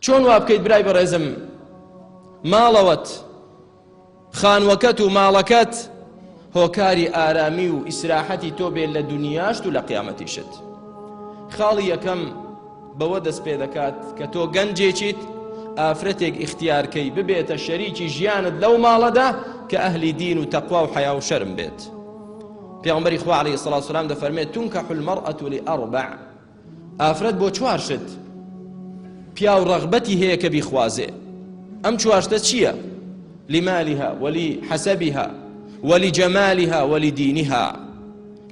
چۆن وابکەیت برای بەڕێزم ماڵەوەت خانوەکەت و ماڵەکەت هۆکاری ئارامی و ئیسراحەتی تۆ بێت لە دنیاشت و لە قیامەتیشت خاڵی یەکەم بەوە دەست پێ دەکات کە تۆ گەنجێکیت ئافرەتێک ئیختیارکەی ببێتە شەریکی ژیانت لەو ماڵەدا کە ئەهلی دین و تەقوا و حیا و شەرم بێت پیامبری خوا علیه الصلاة والسلام دەفەرمێت تونکە حلمەڕئەت لئەربع ئافرەت بۆ چوار شت پیاو ڕەغبەتی هەیە کە بیخوازێ ئەم چوار شتە چییە لمالها ولی حسبها ولی جمالها ولی دینها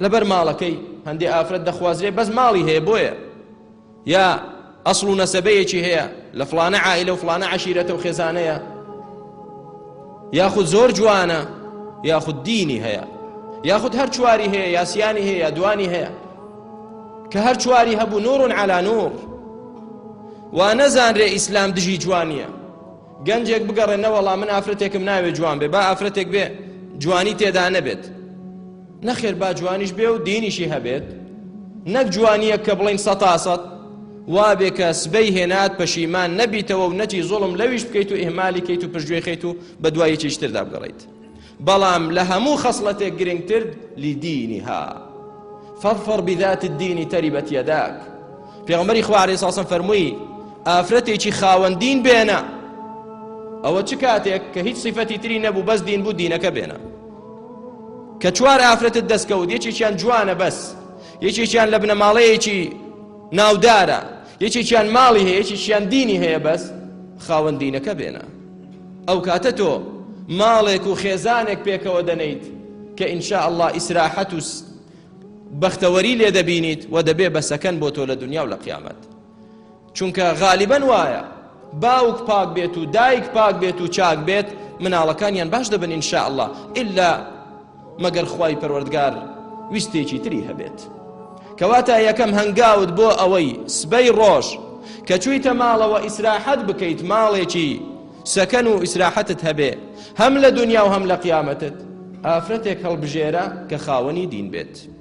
لەبەر ماڵەکەی هەندێ ئافرەت دەخوازرێ بەس ماڵی هەیە بۆیە یا ئەسڵ و نەسەبەیەکی هەیە لە فلانە عائلە و فلانە عشیرەتە و خێزانەیە یاخود زۆر جوانە یاخود دینی هەیە یاخود هەر چواری هەیە یاسیانی هەیە دوانی هەیە کە هەر چواری هەبوو نور علی نور وا نەزانرێ ئیسلام دژی جوانیە گەنجێک بگەڕێ نەوەڵا من ئافرەتێکم ناوێ جوان بێ با ئافرەتێک بێ جوانی تێدا نەبێت نەخێر با جوانیش بێ و دینیشی هەبێت نەک جوانیە کە بڵین سەتاسەد وابێ کە سبەی هێنات پەشیمان نەبیتەوە و نەچی زۆڵم لەویش بکەیت و ئهمالی کەیت و پشتگوێ خەیت و بە دوایەکی شتردا بگەڕیت بەڵام لە هەموو خەسڵەتێک گرنگتر لدینها فاظفر بذات الدین تربت یداک پێغەمبەری خوا علیه الصلاة فەرمووی ئافرەتێکی خاوەن دین بێنە ئەوە چ کاتێک کە هیچ صفەتی تری نەبوو بەس دین بوو دینەکە بێنە کە چوار ئافرەتت دەستکەوت یەکێکیان جوانە بەس یەکێکیان لە بنەماڵەیەکی ناودارە یەکێکیان ماڵی هەیە یەکێکیان دینی هەیە بەس خاوەن دینەکە بێنە ئەو کاتە تۆ ماڵێک و خێزانێک پێکەوە دەنێیت کە ان شاء اللە ئیسراحەت و بەختەوەری لێ دەبینیت و دەبێ بە سەکەن بۆ تۆ لە دنیا و لە قیامەت چونکە غالیبەن وایە باوک پاک بێت و دایک پاک بێت و چاک بێت مناڵەکانیان باش دەبن ان شاء اللە ئللا مەگەر خوای پەروەردگار ویستێکی تری هەبێت کەواتە یەکەم هەنگاوت بۆ ئەوەی سبەی ڕۆژ کە چوویتە ماڵەوە ئیسراحەت بکەیت ماڵێکی سەکەن و ئیسراحەتت هەبێ هەم لە دنیا و هەم لە قیامەتت ئافرەتێک هەڵبژێرە کە خاوەنی دین بێت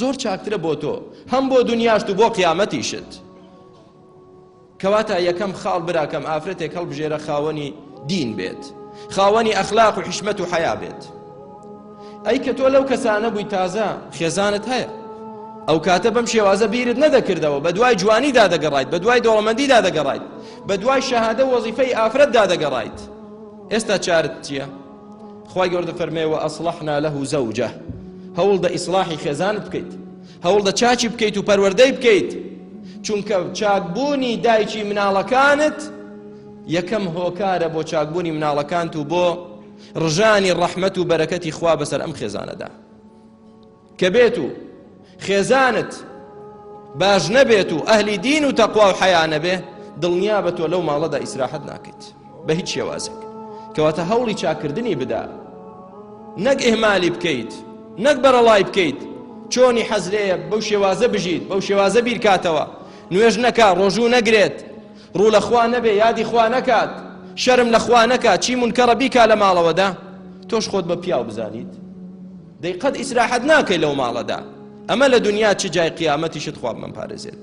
زۆر چاکترە بۆ تۆ هەم بۆ دونیاشت و بۆ قیامەتیشت کەواتە یەکەم خاڵ براکەم ئافرەتێک هەڵبژێرە خاوەنی دین بێت خاوەنی ئەخلاق و حیشمەت و حەیا بێت ئەی کە تۆ لەو کەسانە بووی تازە خێزانت هەیە ئەو کاتە بەم شێوازە بیرت نەدەکردەوە بە دوای جوانیدا دەگەڕایت بە دوای دەوڵەمەندیدا دەگەڕایت بە دوای شەهادە وەزیفەی ئافرەتدا دەگەڕایت ئێستا چارت چییە؟ خوای گەورە دەفەرمێ و ئەسڵحنا لەه زەوجە هەوڵ دە ئیسڵاحی خێزانت بکەیت هەوڵ دە چاچی بکەیت و پەروەردەی بکەیت چونکە چاکبوونی دایکی مناڵەکانت یەکەم هۆکارە بۆ چاکبوونی مناڵەکانت و بۆ ڕژانی ڕەحمەت و بەرەکەتی خوا بەسەر ئەم خێزانەدا کە بێت و خێزانت باش نەبێت و ئەهلی دین و تەقوا و حەیا نەبێ دڵنیا بە تۆ لەو ماڵەدا ئیسراحەت ناکەیت بە هیچ شێوازێک کەواتە هەوڵی چاکردنی بدا نەک ئهمالی بکەیت نەک بەرەڵای بکەیت چۆنی حەزرەیە بەو شێوازە بژیت بەو شێوازە بیرکاتەوە نوێژ نەکا ڕۆژوو نەگرێت ڕوو لە خوا نەبێ یادی خوا نەکات شەرم لە خوا نەکات چی منکەڕە بیکا لە ماڵەوەدا تۆش خۆت بە پیاو بزانیت دەی قەت ئیسراحەت ناکەی لەو ماڵەدا ئەمە لە دونیا چ جای قیامەتیشت خوا بمانپارێزێت.